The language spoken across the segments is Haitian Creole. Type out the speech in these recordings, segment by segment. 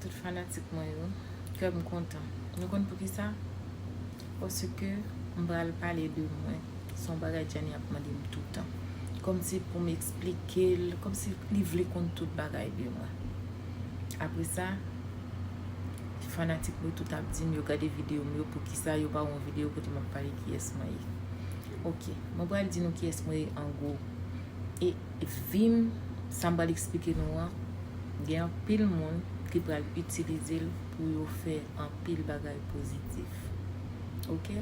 Tout fanatik mwen yo, kè m kontan. Nou konn poukisa? Paske m pral pale de mwen. Se yon bagay Djani ap mande m toutan. Kòmsi pou m esplike l, kòmsi li vle konn tout bagay de mwen. Apre sa, fanatik mwen tout ap di m yo gade videyo m yo poukisa yo pa wè yon videyo kote m ap pale kiyès mwen ye. Ok, mwen pral di nou kiyès mwen ye an gwo. E. Vim, sa m pral eksplike nou an, gen anpil moun ki pral itilize l pou yo fè anpil bagay pozitif. Ok.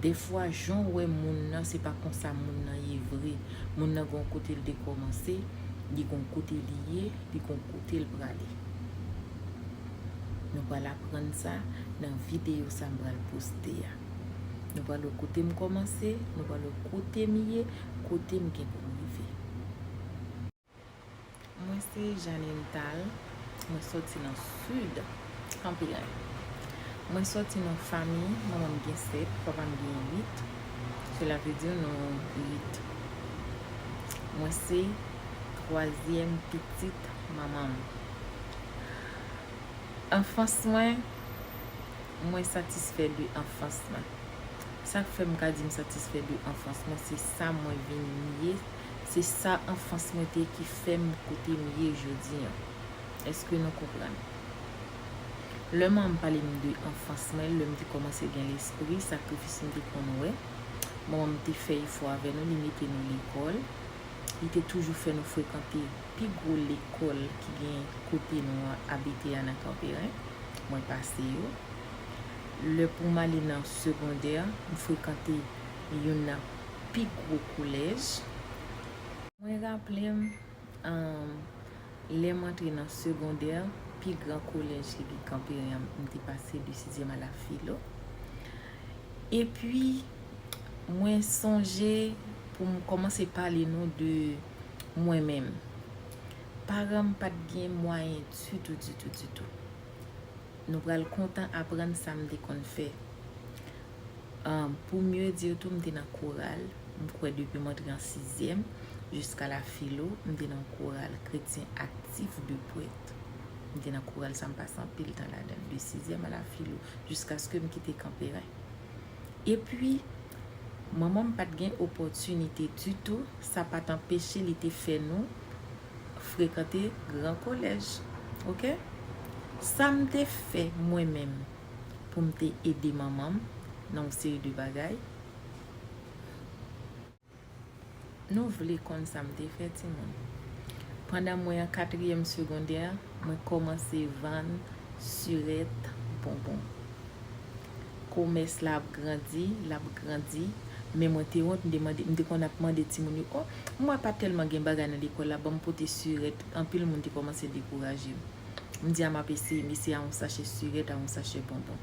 Dèfwa jan w wè moun nan se pa konsa moun nan ye vre. Moun nan gen yon kote l te kòmanse, li gen yon kote li ye, li gen yon kote l prale. Nou pral aprann sa nan videyo sa m pral poste a. Nou pral wè kote m kòmanse, nou pral wè kote m ye, kote m gen pou m rive. Mwen se Jeanine Tal, mwen sòti nan Sid, Kanperen. Mwen sòti nan fami, manman m gen 7, papa m gen 8. Sela vle di nou 8. Mwen se twazyèm pitit manman m. Anfans mwen. Mwen satisfè de anfans mwen. Sa k fè m ka di m satisfè de anfans mwen se sa mwen vin ye, se sa anfans mwen te ye ki fè m kote m ye jodi an. Eske nou konprann? Lè man m pale m de anfans mwen, lè m te kòmanse gen lespri, sakrifis m te konn wè, manman m te fè efò avè nou, li mete nou lekòl, li te toujou fè nou frekante. Pi gwo lekòl ki gen kote nou abite a nan Kanperen, mwen pase yo. Lè pou m ale nan segondè, m frekante youn nan pi gwo kolèj. Mwen raple m, lè m antre nan segondè, pi gran kolèj ki gen Kanperen an, m te pase de sizyèm a la filo. Epi, mwen sonje pou m kòmanse pale nou de mwen menm. Paran m pa t gen mwayen ditou, ditou, ditou. Nou pral kontan aprann sa m te konn fè. Pou mye di w tou, m te nan koral, m kwè depi m antre an sizyèm jiska la filo, m te nan koral Kretyen Aktif de Pwèt. M te nan koral sa m pase anpil tan ladan l, de sizyèm a la filo, jiskaske m kite Kanperen. Epi, manman m pa t gen opòtinite ditou, sa pa t anpeche li te fè nou frekante gran kolèj. Ok. Sa m te fè mwen menm pou m te ede manman m nan yon seri de bagay? Nou vle konn sa m te fè timoun? Pandan mwen an katriyèm segondè, mwen kòmanse vann sirèt bonbon. Komès la ap grandi, l ap grandi, men mwen te wont, m te konn ap mande timoun yo, O, m wè pa tèlman gen bagay nan lekòl la, ban m pote sirèt. Anpil moun te kòmanse dekouraje m. M di a m ap eseye, m eseye a yon sachè sirèt, a yon sachè bonbon.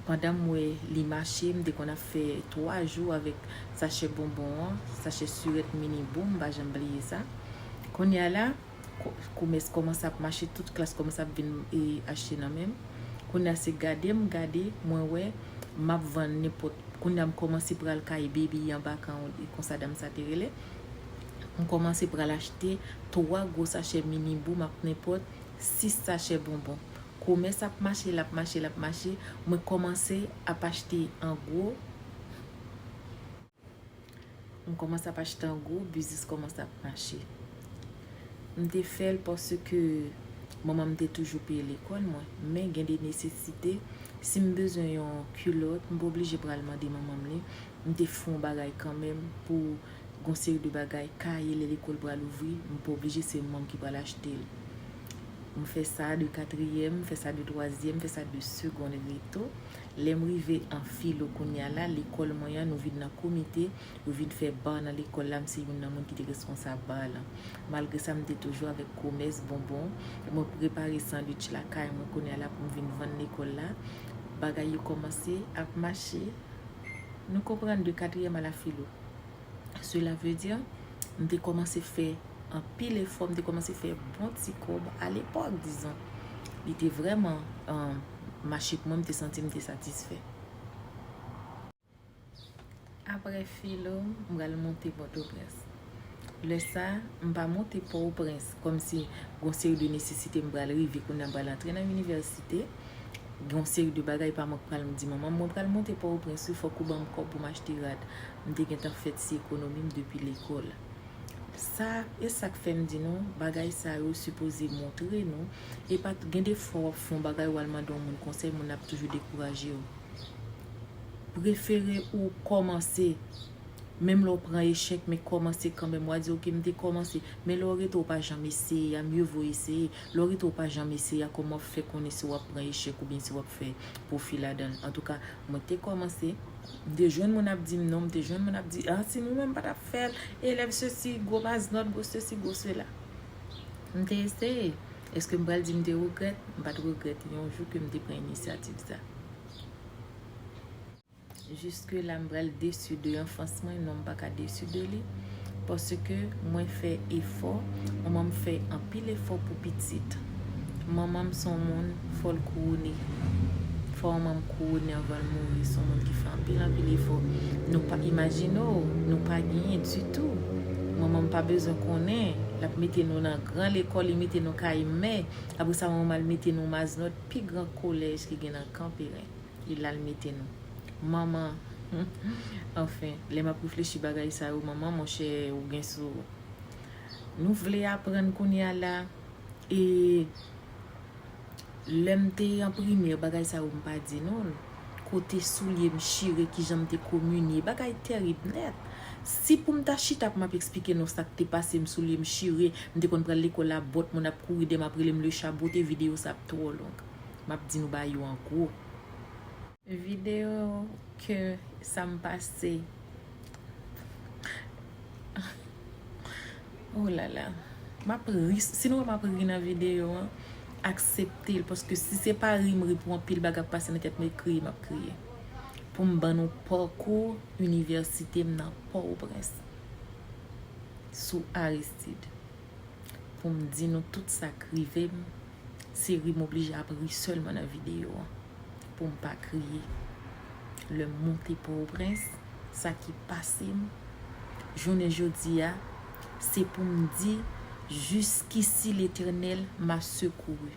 Pandan m wè li mache, m te konn ap fè 3 jou avèk sachè bonbon an, sachè surèt mini boom, m pa janm bliye sa. Kounye a la, komès kòmanse ap mache, tout klas kòmanse ap vin achte nan men m. Kounye a se gade m gade, mwen wè, m ap vann nenpòt, kounye a m kòmanse pral kay Baby anba kan w, e konsa dam sa te rele. M kòmanse pral achte 3 gwo sachè mini boom ak nenpòt 6 sachè bonbon. Komès ap mache, l ap mache, l ap mache. Mwen kòmanse ap achte an gwo. Mwen kòmanse ap achte an gwo, biznis kòmanse ap mache. Mwen te fè l paske manman mwen te toujou peye lekòl mwen. Men gen de nesesite, si mwen bezwen yon kilòt, mwen pa oblije pral mande manman mwen li. Mwen te fè yon bagay kanmenm pou Gon seri de bagay, kaye lè lekòl pral ouvri, m pa oblije se mwen ki pral achte l. M fè sa de katriyèm, m fè sa de twazyèm, m fè sa de segond reto. Lè m rive an filo kounya la, lekòl mwen an nou vin nan komite, yo vin fè bar nan lekòl la, m se youn nan moun ki te reskonsab bar lan. Malgre sa m te toujou avèk komès bonbon, mwen prepare sandwich lakay mwen kounya la pou m vin vann lekòl la. Bagay yo kòmanse ap mache. Nou konprann de katriyèm a la filo. Cela veut dire, m te kòmanse fè anpil efò, m te kòmanse fè bon ti kòb a lepòk dizon. Li te vrèman mache pou mwen, m te santi m te satisfè. Aprè filo, m pral monte Pòtoprens. Lè sa, m pa monte Pòoprens kòm si gon seri de nesesite m pral rive kounye a m pral antre nan inivèsite. gen yon seri de bagay pa mwen k pral m di manman m mwen pral monte Pòtoprens wi fòk ou ban m kòb pou m achte rad m te gentan fè ti ekonomi m depi lekòl sa e sa k fè m di nou bagay sa yo sipoze montre nou e pa gen de fwa w ap fè yon bagay w al mande yon moun konsèy moun nan ap toujou dekouraje w prefere ou kòmanse menm lè w pran echèk men kòmanse kanmèm wa di ok m te kòmanse men lè w rete w pa janm eseye a mye vo eseye Lorita ou pa janm eseye a kòman wap fè konnen si wap pran echèk oubyen si wap fè pwofi ladanl antouka mwen te kòmanse m te jwenn moun ap dim non m te jwenn moun ap di ah si m mwen m patap fèl elèv sesi gwo mas nòt gwo sesi gwo sela m te eseye eske m pral di m te regrèt m pat regrèt yon jou ke m te pran inisyativ sa. Juske la m pral desu de anfans mwen non m paka desu de li paske mwen fè efò manman m fè anpil efò pou pitit manman m son moun fò l kouwone fò manman m kouwone anvan l mouri son moun ki fè anpil anpil efò nou pa imajine w nou pa genyen ditou manman m pa bezwen konnen l ap mete nou nan gran lekòl li mete nou kay mè apresa manman m al mete nou maznòt pi gran kolèj ki gen nan kanperen. E la l mete nou. Manman! Anfen, lè m ap reflechi bagay sa yo, manman monchè ou gen sou ou. Nou vle aprann kounye a la e lè m te an primè bagay sa yo m pa di nou l. Kote soulye m chire, kijan m te kominye, bagay tèrib nèt. Si pou m ta chita pou m ap esplike nou sa k te pase m, soulye m chire, m te konn pral lekòl a bòt, moun ap kouri de m ap rele m Lecha Bote, videyo sa ap twò long. Map di nou ba yo an gwo. Video ke sam pase oh lala map ri si nou wè map ri nan video an akseptel paske si se pa ri m ri pou anpil bagay kap pase nan tèt mwen kriye map kriye poum ban nou pakou inivèsite m nan pòtoprens sou aristid poum di nou tout sak rive m Se ri m oblije ap ri sèlman nan videyo an pou m pa kriye. Lè m monte Pòtoprens, sa ki pase m jounen jodi a, se pou m di jiskisi Letènèl m'a sekouri,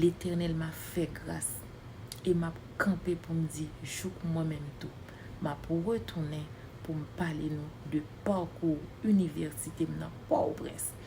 Letènèl m'a fè gras e m'ap kanpe pou m di jouk mwen menm tou m'ap retounen pou m pale nou de pakou inivèsite m nan Pòtoprens.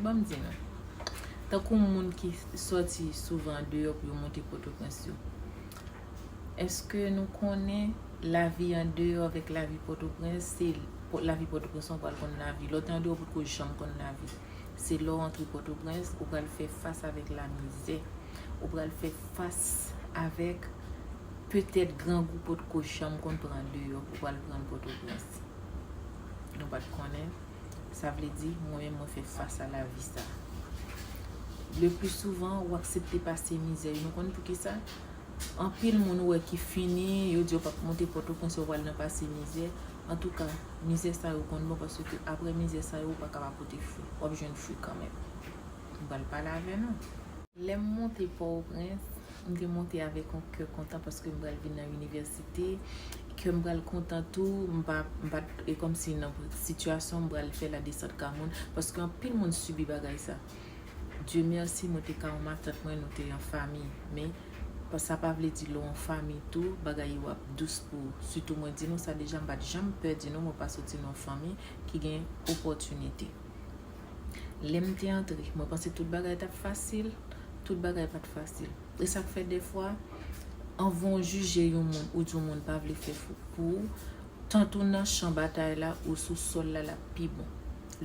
Bon m di nou. Tankou moun ki sòti souvan andeyò pou yo monte Pòtoprens yo. Eske nou konnen lavi andeyò avèk lavi Pòtoprens se lavi Pòtoprens an w pral konn lavi. Lè w te andeyò ou potko janm konn lavi. Se lè w antre Pòtoprens ou pral fè fas avèk lamizè. Ou pral fè fas avèk petèt grangou potko janm konn pran andeyò ou pral pran l Pòtoprens. Nou pa t konnen. Sa vle di, mwen menm mwen fè fas a lavi sa. Le pli souvan, ou aksepte pase mizè. Nou konn pou ki sa? Anpil moun ou wè ki fini, yo di yo pap monte Pòtoprens, yo pral nan pase mizè. An tou ka, mizè sa yo konn bon, paske apre mizè sa yo, ou pa ka pa pote fwi. W ap jwenn fwi kanmenm. Nou pral pale avè nou. Lè m monte Pòoprens, M te monte avèk yon kè kontan paske m pral vin nan inivèsite, kè m pral kontan tou, m pa, m pa t, e kòmsi nan sitiyasyon m pral fè ladesant ka moun, paske anpil moun sibi bagay sa. Dye mèsi mwen te ka yon matant mwen, nou te yon fanmi, men, sa pa vle di lè w yon fanmi tou, bagay yo ap dous pou ou. Sitou mwen di nou sa deja, m pa t janm pè di nou mwen pa soti nan yon fanmi ki gen opòtinite. Lè m te antre, mwen panse tout bagay t ap fasil, tout bagay pa t fasil. E sa k fè dèfwa, anvan w jije yon moun, ou di yon moun pa vle fè fouk pou ou, tant ou nan chan batay la, ou sou sòl la, l ap pi bon.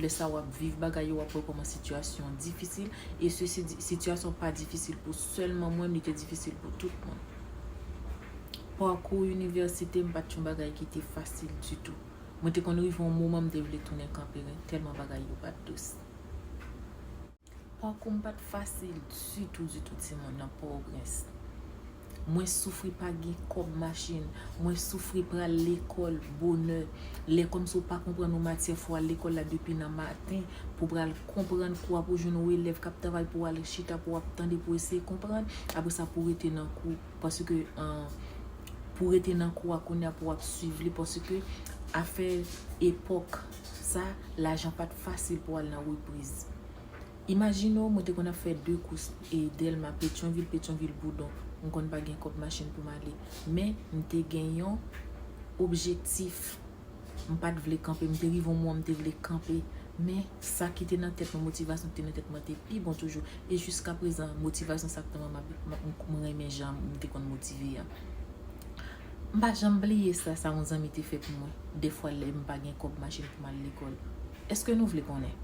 Lè sa a, w ap viv bagay yo, w ap wè kòman sitiyasyon difisil. E sesi di, sitiyasyon pa difisil pou sèlman mwen, li te difisil pou tout moun. Pakou inivèsite m pa t yon bagay ki te fasil ditou. Mwen te konn rive yon moman m te vle tounen kanperen tèlman bagay yo pa t dous. Pakou m pa t fasil ditou ditou timoun nan Pòtoprens. Mwen soufri pa gen kòb machin, mwen soufri pral lekòl bonè, lè kòmsi w pa konprann yon matyè fò w al lekòl la depi nan maten pou w pral konprann kou a pou w jwenn yon elèv k ap travay pou w al chita pou w ap tande pou w eseye konprann, apresa pou w rete nan kou. Paske pou rete nan kou a kounya pou wap swiv li paske afè epòk sa lajan pat fasil pou al nan repriz. Imajine w mwen te konn ap fè 2 kous e Dèlma, Petyonvil, Petyonvil, Boudon. M konn pa gen kòb machin pou m ale. Men m te gen yon objektif. M pa t vle kanpe, m te rive yon moman m te vle kanpe, men sa ki te nan tèt mwen, motivasyon ki te nan tèt mwen te pi bon toujou, e jiskaprezan motivasyon sa ki te nan tèt mwen, m renmen jan m te konn motive a. M pa janm bliye sa, sa yon zanmi te fè pou mwen, dèfwa lè m pa gen kòb machin pou m al lekòl. Èske nou vle konnen?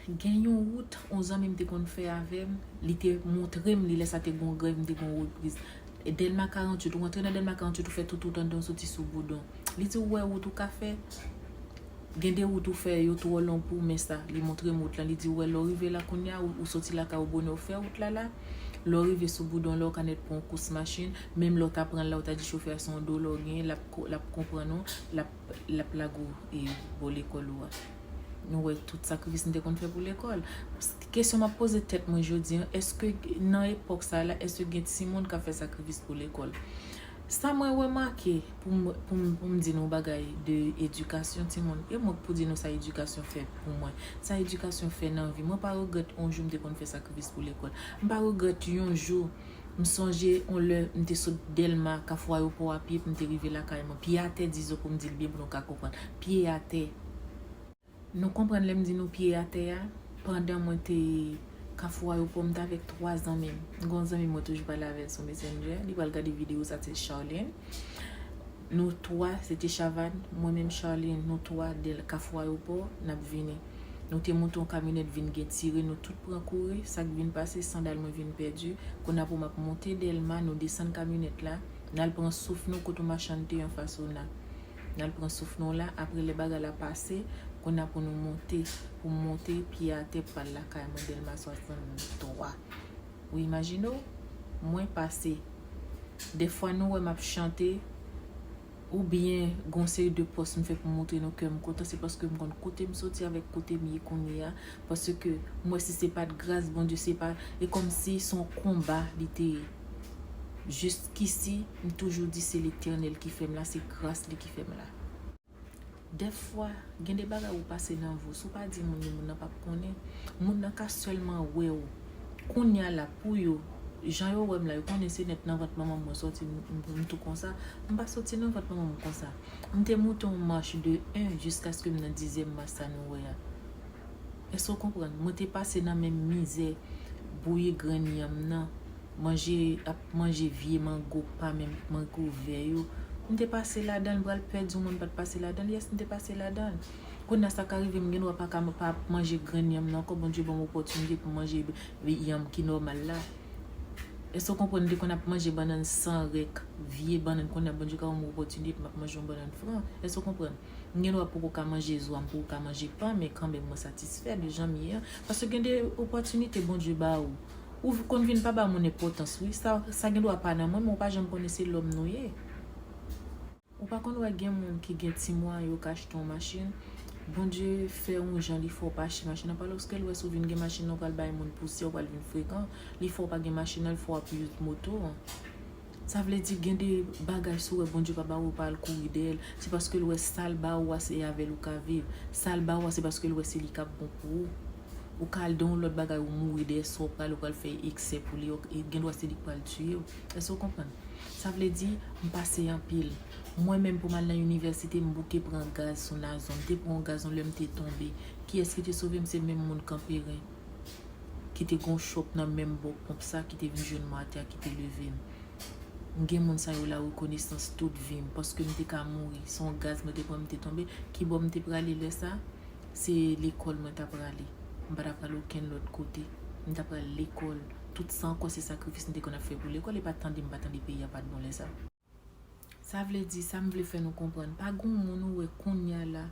Gen yon wout yon zanmi m te konn fè avè m, li te montre m li lè sa te gen yon grèv m te gen yon repriz. Dèlma 48, ou antre nan Dèlma 48 ou fè tout wout andan ou soti sou Boudon. Li di ou wè wout ou ka fè? Gen de wout ou fè yo twò long pou ou men sa. Li montre m wout lan li di ou wè lè ou rive la kounye a ou soti lakay ou bonè ou fè wout la la, lè ou rive sou Boudon la ou ka nèt pran yon kous machin, menm lè ou ta pran l la ou ta di chofè a se yon dola ou genyen l ap konprann ou, l ap lage ou bò lekòl ou a. Nou wè tout sakrifis nou te konn fè pou lekòl. Kesyon m ap poze tèt mwen jodi an, èske nan epòk sa a la, èske gen timoun k ap fè sakrifis pou lekòl? Sa mwen remake pou m di nou bagay de edikasyon timoun, e mwen k pou di nou sa edikasyon fè pou mwen, sa edikasyon fè nan vi. Mwen pa regrèt yon jou m te konn fè sakrifis pou lekòl. M pa regrèt yon jou. M sonje on lè m te sot Dèlma, Kafou Ayopò a pye pou m te rive lakay mwen. Pye atè di zo pou m di l byen pou nou ka konprann. Pye atè. Nou konprann lè m di nou pye atè a? Pandan mwen te Kafou Ayopò, m t avèk twa zanmi m. Gen on zanmi m mwen toujou pale avè l sou Messenger. Li pral gade videyo sa, l se Charlene. Nou 3, se te Chavàn, mwen menm Charline, nou 3, del Kafou Ayopò, n ap vini. Nou te monte yon kamyonèt vin gen tire, nou tout pran kouri, sa k vin pase, sandal mwen vin pèdi. Konn apre m ap monte Dèlma, nou desann kamyonèt la, n al pran souf nou kote yon machann te anfas ona. N al pran souf nou la, apre lè bagay la pase, konn apre nou monte, pou m monte, pye atè pral lakay mwen Dèlma 63. Ou imajine w mwen pase. Dèfwa nou wè m ap chante oubyen gon seri de pòs m fè pou m montre nou kè m kontan se paske m konn kote m soti avèk kote m ye kounye a paske m wè si se pa t gras Bondye se pa e kòmsi s on konba li te ye. Jiskisi m toujou di se Letènèl ki fè m la, se gras li ki fè m la. Dèfwa, gen de bagay ou pase nan vi w, si w pa di moun yo, moun nan pap konnen. Moun nan ka sèlman wè w kounya la pou yo, jan yo wè m la, yo konnen se nèt nan vant manman m mwen sòti, m tou konsa. M pa sòti nan vant manman m konsa. M te moute yon mach de 1 jiskaske m nan dizyèm mach sa nou wè a. Èske w konprann? Mwen te pase nan menm mizè bouyi grenn yanm nan. Manje ap manje vye mango pa menm mango vè yo m te pase ladanl pral pè di w mwen m pat pase ladanl yes m te pase ladanl kounya sa ka rive m gen dwa paka pa manje grenn yanm nan ankò Bondye banm opòtinite pou m manje yanm ki nòmal la èske w konprann m te konn ap manje bannann san rèk vye bannann kounya Bondye ka ban m opòtinite pou m ap manje yon bannann fran èske w konprann m gen dwa poko ka manje zo a m poko ka manje pan men kanmenm mwen satisfè de janm ye an paske gen de opòtinite Bondye ba ou. Ou konn vin pa ba moun enpotans wi sa gen dwa pa nan mwen men ou pa janm konnen se lòm nou ye ou pa konn wè gen moun ki gen ti mwayen yo ka achte yon machin Bondye fè yon jan li fè w pa achte machin nan paloske l wè si w vin gen machin nan ou pral bay moun pousyè ou pral vin frekan li fè w pa gen machin nan li fè w ap use moto an sa vle di gen de bagay si w wè Bondye pa ba w ou pa al kouri dèyè l se paske l wè sa l ba ou a se avè l ou ka viv sa l ba ou a se paske l wè se li k ap bon pou ou. Ou ka al dan yon lòt bagay ou mouri dèyè sa w pral ou pral fè eksè pou li e gen dwa se li k pral tiye w. Èske w konprann? Sa vle di, m pase anpil. Mwen menm pou m al nan inivèsite m bouke pran gaz sou Nazon. M te pran yon gaz yon lè m te tonbe. Kiyès ki te sove m? Se menm moun Kanperen ki te gen yon chòk nan menm bò ponp sa ki te vin jwenn mwen atè a ki te leve m. M gen moun sa yo la rekonesans tout vi m paske m te ka mouri. Se yon gaz mwen te pran m te tonbe. Kibò m te prale lè sa? Se lekòl mwen t aprale. M pa t aprale okenn lòt kote. M t aprale lekòl. Tout san kò se sakrifis m te konn ap fè pou lekòl. E pa tande m pa tande peyi a pa t bon lè sa. Sa vle di, sa m vle fè nou konprann, pa gon moun ou wè konnya la,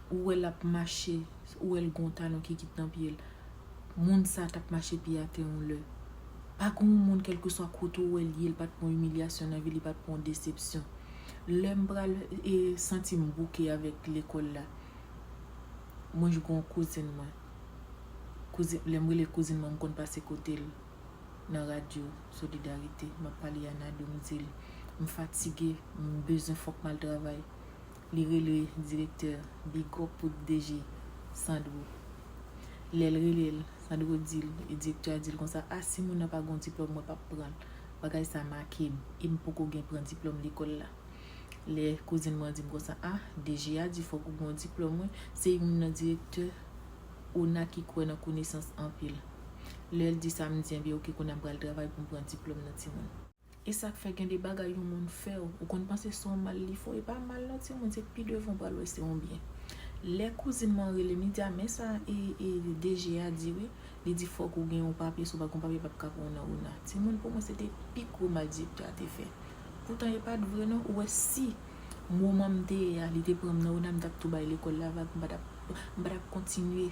ou wè l ap mache, ou wè l gon talon ki kit nan pye l. Moun sa t ap mache pye atè yon lè. Pa gon yon moun kèlkeswa kote ou wè l ye, l pa t pran imilyasyon nan vi l, li pa t pran desepsyon. Lè m pral santi m bouke avèk lekòl la, Mwen jwe yon kouzin mwen. Kouzin, lè m rele kouzin mwen, m konn pase kote l nan radyo Solidarite. M ap pale a Nadou, m di l m fatige, m bezwen fòk m al travay. Li rele direktè, bigòp pou DG Sandro. Lè l rele l, Sandro di l, direktè a di l konsa, a si moun nan pa gen yon diplòm mwen p ap pran l. Bagay sa make m e m poko gen pran diplòm lekòl la. Lè kouzin mwen di m konsa ah DG a di fòk ou gen yon diplòm wi, se youn nan direktè ona ki kwè nan konesans anpil. Lè l di sa m di enben ok kounye a m pral travay pou m pran diplòm nan timoun. E sa k fè gen de bagay yon moun fè w, ou konn panse se yon mal li fè w, e pa mal non timoun se pi devan w pral wè se yon byen. Lè kouzin mwen an rele m li di a men sa e DG a di wi, li di fòk ou gen yon papye si w pa gen yon papye pap ka pran w nan ona. Timoun pou mwen se te pi gwo mal direktè a te fè. Poutan e pat vre non ou wè si moman m te ye a li te pran m nan ona m tap tou bay lekòl la vag m patap m patap kontinye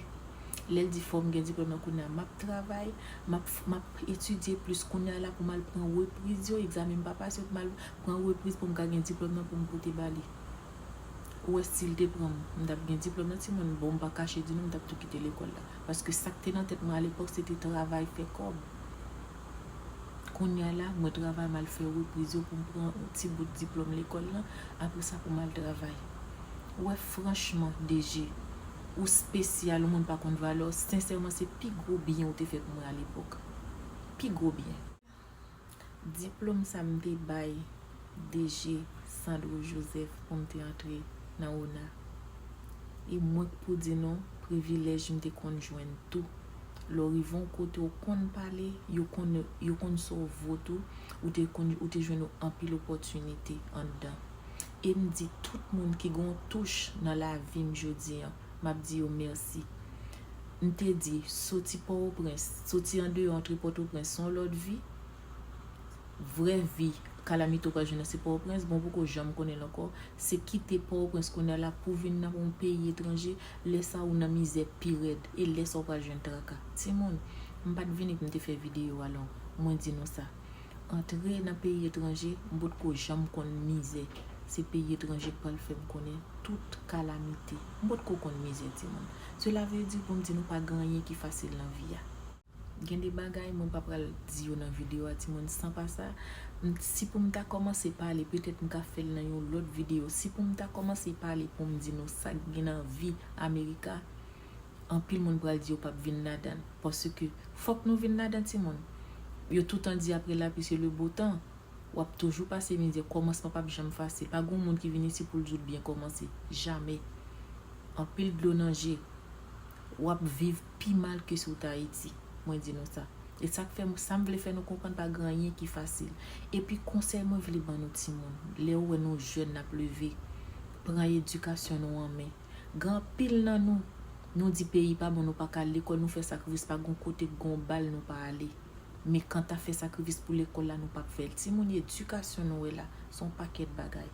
lèl di fòm gen diplòm nan kounya map travay map map etidye plis kounya la poum al pran repriz yo egzamen m pa pase yo poum al pran repriz poum ka gen diplòm nan poum pote bali ou wè sil te pran m m tap gen diplòm nan timoun bon m pa kache di nou m tap tou kite lekòl la paske sak te nan tèt mwen alepòk se te travay fè kòb. Kounya la, mwen travay m al fè repriz yo pou m pran yon ti bout diplòm lekòl lan, apre sa pou m al travay. Ou wè franchman DG, ou spesyal, ou moun pa konn valè w, sensèman se pi gwo byen ou te fè pou mwen alepòk. Pi gwo byen. Diplòm sa m te bay DG Sandro Joseph pou m te antre nan ona. E mwen k pou di nou, privilèj m te konn jwenn tou. Lè w rive yon kote ou konn pale, yo konn yo konn sa w vo tou, ou te konn ou te jwenn anpil opòtinite anndan. E m di tout moun ki gen yon touch nan lavi m jodi an, m ap di yo mèsi. M te di soti Pòwoprens, soti andeyò antre Pòtoprens s on lòt vi, vrè vi Calamito pral jwenn nan se Pòtoprens, bon ou poko janm konnen l ankò, se kite Pòtoprens kounye a la pou w vin nan yon peyi etranje, lè sa ou nan mizè pi rèd, e lè sa ou pral jwenn traka. Timoun, m pa t vini pou m te fè videyo a long, mwen di nou sa, antre nan peyi etranje, m potko janm konn mizè, se peyi etranje k pral fè m konnen tout kalamite. M potko konn mizè timoun. Sela vle di pou m di nou pa gen anyen ki fasil nan vi a. Gen de bagay mwen pa pral di yo nan video a timoun san pa sa si poum ta kòmanse pale petèt m ka fèl nan yon lòt video si poum ta kòmanse pale poum di nou sak gen nan vi America anpil moun pral di yo pap vin ladan l paske fòk nou vin ladan timoun yo toutan di aprè lapli se le beau temps wap toujou pase mizè kòmansman pap janm fasil pa gon moun ki vin isi poul di w l byen kòmanse jamè anpil dlo nan je wap viv pi mal ke si ou t Ayiti, mwen di nou sa. E sa k fè, sa m vle fè nou konprann pa gen anyen ki fasil. Epi konsèy mwen vle ban nou timoun, lè ou wè nou jèn n ap leve, pran edikasyon nou an men. Gen anpil nan nou, nou di peyi pa bon nou pa ka al lekòl, nou fè sakrifis pa gen yon kote k gen yon bal nou pa ale. Men kanta fè sakrifis pou lekòl la nou p ap fè l. Timoun edikasyon nou wè la, s on pakèt bagay.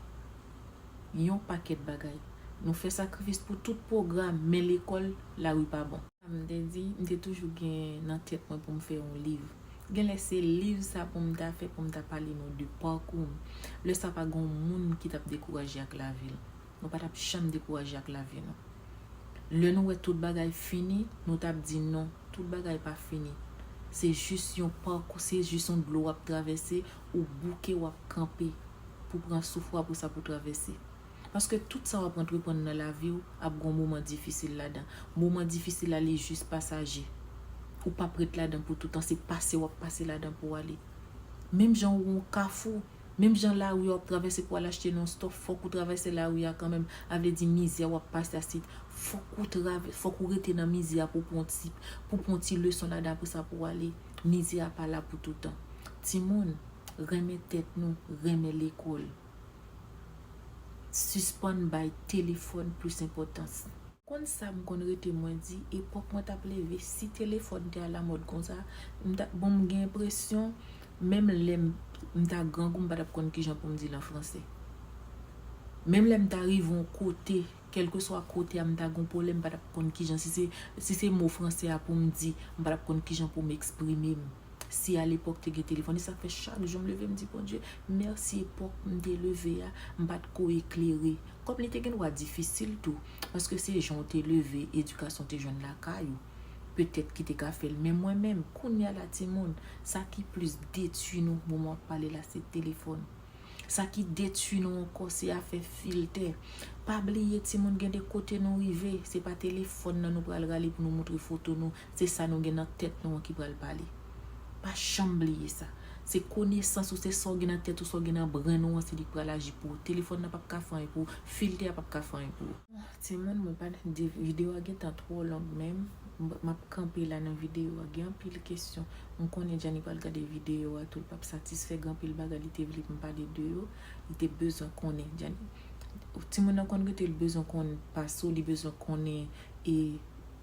Yon pakèt bagay. Nou fè sakrifis pou tout pwogram men lekòl lari pa bon. Sa m te di, m te toujou gen nan tèt mwen pou m fè yon liv. Genlè se liv sa pou m ta fè pou m ta pale nou de pakou m. Lè sa pa gen yon moun ki t ap dekouraje ak lavi l. Nou pa t ap janm dekouraje ak lavi nou. Lè nou wè tout bagay fini, nou t ap di non, tout bagay pa fini. Se jis yon pakou, se jis yon dlo w ap travèse, Ou bouke wap kanpe pou pran souf wap ou sa pou travèse. Paske tout sa wap antreprann nan laviw ap gon moman difisil ladan. Moman difisil la li jis pasaje. Ou pap ret ladan pou toutan se pase wap pase ladan pou ale. Menm jan ou yon kafou, menm jan lari wap travèse pou al achte non stòf fòk ou travèse lari a kanmenm avle di mizè wap pase a si fòk ou travè fòk ou rete nan mizè a pou pran ti pou pran ti leson ladan apre sa pou ale. Mizè a pa la pou toutan. Timoun, renmen tèt nou, renmen lekòl. Sispann bay telefòn plis enpòtans. Konn sa m konn rete mwen di, epòk mwen t ap leve, si telefòn te alamòd konsa, m ta, bon m gen enpresyon, menm lè m m ta grangou m pa t ap konn ki jan pou m di l an franse. Menm lè m ta rive yon kote. Kèlkeswa kote a m ta gen yon pwoblèm m pa t ap konn kijan si se si se mo fransè a pou m di m pa t ap konn kijan pou m eksprime m si alepòk te gen telefòn e sa k fè chak jou m leve m di Bondye mèsi epòk m te leve a m pa t ko eklere kòm li te gen dwa difisil tou paske se jan w te leve edikasyon w te jwenn lakay ou petèt ki te ka fè l men mwen menm kounya la timoun sa ki plis detui nou moman w ap pale la se telefòn. Sa ki detui nou ankò se afè filtè. Pa bliye timoun gen de kote nou rive, se pa telefòn nan nou pral rale pou nou moutre foto nou, se sa nou gen nan tèt nou an ki pral pale. Pa janm bliye sa. Se konesans ou, se sa w gen nan tèt ou, sa w gen nan brenn ou an se li k pral aji pou ou. Telefòn nan p ap ka fè anyen pou ou, filtè a p ap ka fè anyen pou ou. Timoun mwen pa nan di video a gentan twò long menm map kanpe la nan video a gen anpil kesyon m konnen Djanny pral gade video a tou l pap satisfè gen anpil bagay li te vle pou m pale de yo li te bezwen konnen Djanny timoun nan konn rete li bezwen konn pas ou li bezwen konnen e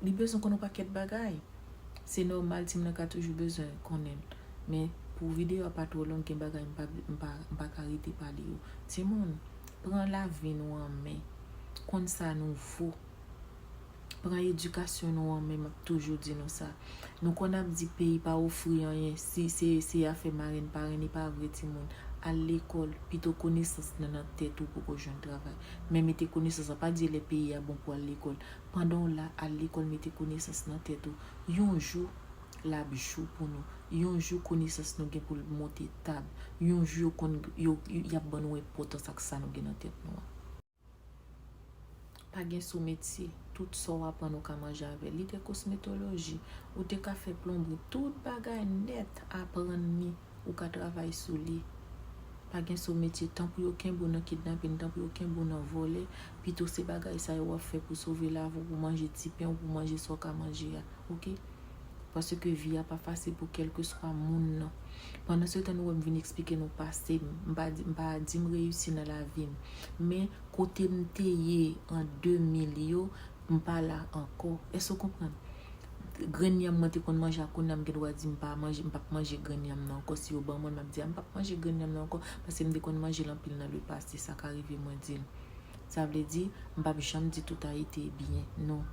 li bezwen konn yon pakèt bagay se nòmal timoun nan ka toujou bezwen konnen men pou video a pa twò long gen bagay m pa ka rete pale yo timoun Pran lavi nou an men. Konn sa nou vo. Pran edikasyon nou an men, map toujou di nou sa. Nou konn ap di peyi pa ofri anyen, si se se afè marenn parenn e pa vre timoun. Al lekòl, pito konesans nan nan tèt ou poko jwenn travay. Men mete konesans sa pa di lè peyi a bon pou al lekòl. Pandan w la, al lekòl mete konesans nan tèt ou. Yon jou, lap jou pou nou yon jou konesans nou gen pou l monte tab yon jou yo konn yo yap ban nou enpotans ak sa nou gen nan tèt nou an pa gen sou metye tout sa w aprann ou ka manje avè li gen kosmetoloji ou te ka fè plonbri tout bagay nèt aprann li ou ka travay sou li pa gen sou metye tan pou yo kenbe w nan kidnapin tan pou yo kenbe w nan vòlè pito se bagay sa yo wap fè pou sove lavi w pou manje ti pen w pou manje sa w ka manje a ok. Paske vi a pa fasil pou kèlkeswa moun nan. Pandan se tan nou wè m vin eksplike nou pase m. M pa di m pa di m reyisi nan lavi m. Men kote m te ye an 2000 yo, m pa la ankò. Èske ou konprann? Grenn yanm mwen te konn manje a kounye a m gen dwa di m pa manje, m pap manje grenn yanm nan ankò. Si yo ban mwen l m ap di a m pap manje grenn yanm nan ankò paske m te konn manje l anpil nan le pase. Sa ka rive mwen di l. Sa vle di, m pap janm di tout Ayiti byen, non.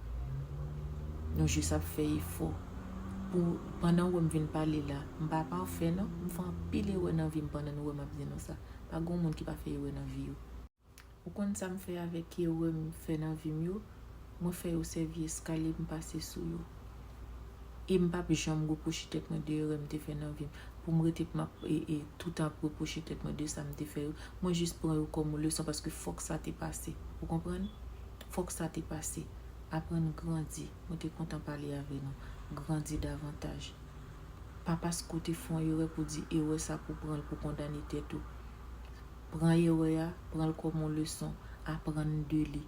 Nou jis ap fè efò. Pou, pandan ou wè m vin pale la, m pa pafè non, m fè anpil erè nan vi m pandan nou wè m ap di nou sa. Pa gen yon moun ki pa fè erè nan vi yo. Ou konn sa m fè avèk erè m fè nan vi m yo? Mwen fè yo sèvi eskalye pou m pase sou yo. E m pap janm repwoche tèt mwen de erè m te fè nan vi m, pou m rete pou m ap toutan ap repwoche tèt mwen de sa m te fè yo. Mwen jis pran yo kòm yon leson paske fòk sa te pase. Ou konprann? Fòk sa te pase. Aprann grandi. Mwen te kontan pale avè nou. Grandi davantaj. Pa paske w te fè yon erè pou w di erè sa pou w pran l pou w kondane tèt ou. Pran erè a, pran l kòm yon leson, aprann de li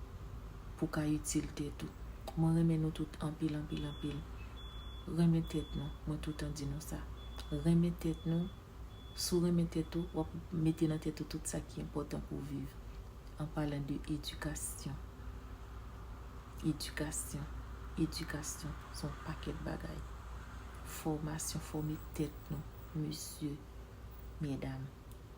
pou w ka itil tèt ou. Mwen renmen nou tout anpil, anpil, anpil. Renmen tèt nou, mwen toutan di nou sa. Renmen tèt nou, si w renmen tèt ou, w ap mete nan tèt ou tout sa ki enpòtan pou w viv. An palan de edikasyon. Edikasyon, edikasyon se yon pakèt bagay. Fòmasyon, fòme tèt nou, mesye, medam.